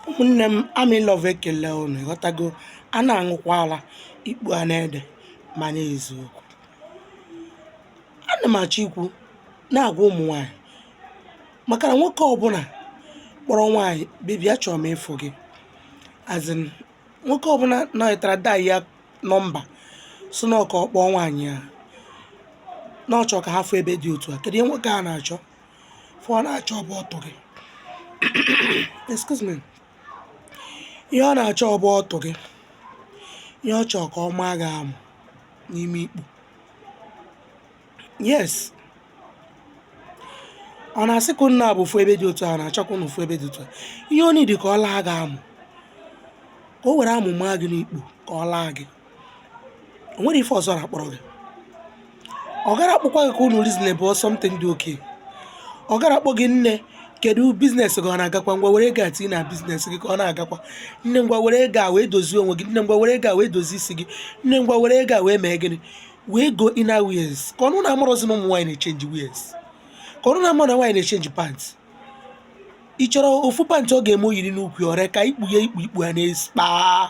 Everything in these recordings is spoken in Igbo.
ụmụnne m ami love ekele unu ịghọtago a na-aṅụkwa ala ikpu a na-ede mana eziokwu ana m achọ ikwu na-agwa ụmụ nwaanyị maka na nwoke ọbụla kpọrọ nwaanyị baby achọrọ m ịfụ gị as in nwoke ọbụla nọkatara dial nọmba sị na ọ ka ọ kpọọ nwaanyị a na ọ chọrọ ka ha fụ ebe dị otu a kedu ihe nwoke a na-achọ ife ọ na-achọ bụ ọtụ gị excuse me ihe ọ na-achọ bụ ọtụ gị ihe ọ chọọ ka ọ maa gị amụ n'ime ikpu yes ọ na-asị ka unu abụọ fụ ebe dị otu a ọ na-achọ ka unu fụ ebe dị otu a ihe ọ need ka ọ laa gị amụ ka o were amụ maa gị n'ikpu ka ọ laa gị o nwere ife ọzọ ọ na-akpọrọ gị ọ gara akpọkwa gị ka unu reason about something dị okay ọ gara akpọ gị nne kedu business gị ọ na-agakwa ngwa were ego a tinye na business gị ka ọ na-agakwa nne ngwa were ego a wee dozie onwe gị nne ngwa were ego a wee dozie isi gị nne ngwa were ego a wee mee gịnị wee go inner wears ka unu na-amarọzi na ụmụ nwaanyị na-echenji wears ka unu na-ama na nwaanyị na-echenji pant ị chọrọ ofu pant ọ ga-eme o yiri n'ukwu ọrịa ka ikpu ya ikpu ikpu a na-esi kpaa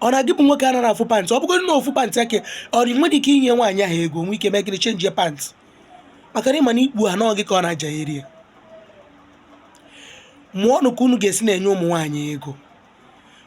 ọ na gị bụ nwoke anarọ afụ pant ọ bụgodị na ofu pant a ka ọ dị i nwere ike inye nwaanyị ahụ ego nwee ike mee gịnị chenji pant maka na ị ma na ikpu ahụ na ọ gị ka ọ na-aja eri ya mụọnụ ka unu ga-esi na-enye ụmụ nwaanyị ego